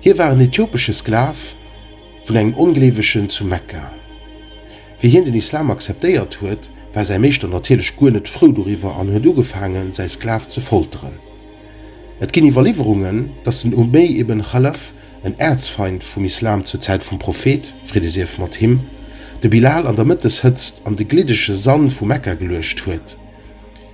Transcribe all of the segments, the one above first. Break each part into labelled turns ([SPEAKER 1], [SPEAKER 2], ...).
[SPEAKER 1] Hie war en ethiopesche Sklav vun engem Ongleewegen zu Mekka. Wéi hien den Islam akzeptéiert huet, war säi Meeschter natierlech guer net frou doriwwer an huet ugefaangen, säi Sklav ze folteren. Et ginn Iwwerliwwerungen, datt den Umeyyy ibn Chalaf, en Äerzfeind vum Islam zur Zäit vum Prophet, Fridde sief mat him, de Bilal an der Mëtteshëtzt an de gliddege Sand vu Mekka geluecht huet.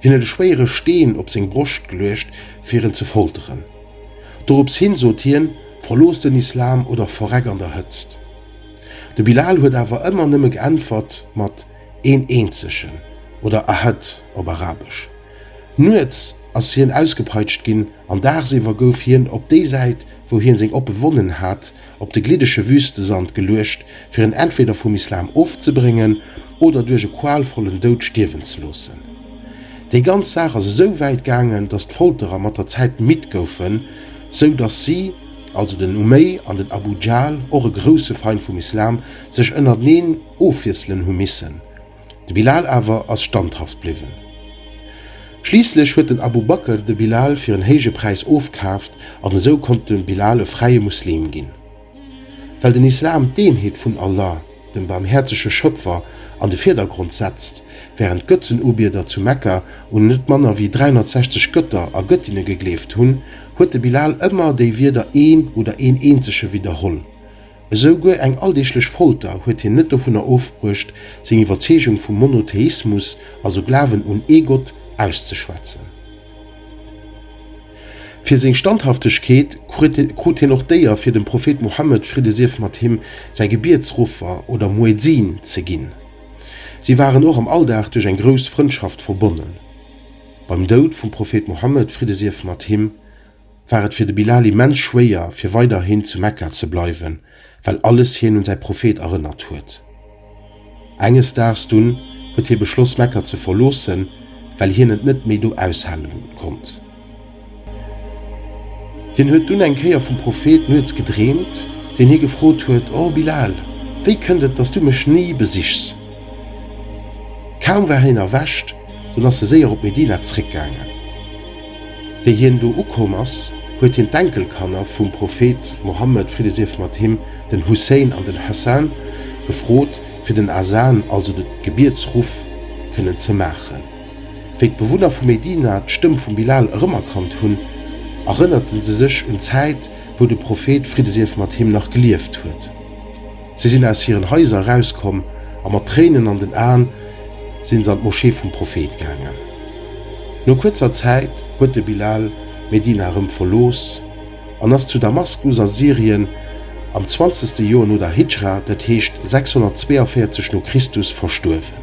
[SPEAKER 1] Hien huet e schwéiere Steen op seng Broscht geluecht, fir en ze folteren. Dorops hin sot hien, Verlooss den Islam oder verreck an der Hëtzt! De Bilal huet awer ëmmer nëmme geäntwert mat Een Eenzegen oder Ahad op Arabesch. Nuets ass hien ausgepeitscht ginn an dagsiwwer gouf hien op déi Säit, wou hien seng Oppe Wonnen hat, op de gliddege Wüstesand geluecht, fir en entweder vum Islam ofzebréngen oder duerch e qualvollen Doud stierwen ze loossen. Déi ganz Saach ass esou wäit gaangen, datt d'Folterer mat der Zäit midd goufen, sou datt si, also den Umeý an den Abu Jahl, och e grousse Feind vum Islam, sech ënnerteneen ofwiesselen hu missen. De Bilal awer ass standhaft bliwwen. Schliisslech huet den Abu Bakr de Bilal fir en héije Präis ofkaaft an esou konnt de Bilal e fräie Muslim ginn. Well den Islam d'Eenheet vun Allah, dem barmhäerzege Schöpfer, an de Virdergrond setzt, wärend d'Götzenubieder zu Mekka un net manner wéi 360 Götter a Göttinne gegleeft hunn, huet de Bilal ëmmer déi Wierder een oder een eenzege widderholl, Esou guer eng alldeeglech Folter huet hien net dovunner ofbruecht, seng Iwwerzeegung vum Monotheismus, also Glawen un ee Gott, auszeschwätzen. Fir seng Standhaftegkeet krut hien och d'Éier, fir dem Prophet Muhammed, Fridde sief mat him, säi Gebietsruffer oder Muezzin ze ginn. Si waren och am Alldag duerch eng grouss Frëndschaft verbonnen. Beim Doud vum Prophet Muhammed, Fridde sief mat him, war et fir de Bilal immens schwéier, fir weiderhin zu Mekka ze bleiwen, well alles hien un säi Prophet erënnert huet. Enges Daags dunn huet hie beschloss, Mekka ze verloossen, well hien et net méi do aushale konnt. Hien huet dunn eng Kéier vum Prophet nuets gedreemt, deen hie gefrot huet, O Bilal! Wéi kënnt et, dass du mech ni besichs? Kaum war hien erwächt, dunn ass e séier op Medina zeréckgaangen. Wéi hien do ukomm ass, huet hien d'Enkelkanner vum Prophet Mohammed, Fridde sief mat him, den Hussein an den Hassan, gefrot, fir den Azan, also de Gebietsruff, kënnen ze maachen. Wéi d'Bewunner vu Medina d'Stëmm vum Bilal erëmerkannt hunn, erënnerte se sech un d'Zäit, wou de Prophet, Fridde sief mat him, nach gelieft huet. Si sinn aus hiren Haiser erauskomm a mat Tréinen an den Aen sinn se an d'Moschee vum Prophet gaangen. No kuerzer Zäit huet de Bilal Medina erëm verlooss an ass zu Damaskus a Syrien am zwanzegste Joer no der Hidschra, dat heescht 642 no Christus, verstuerwen.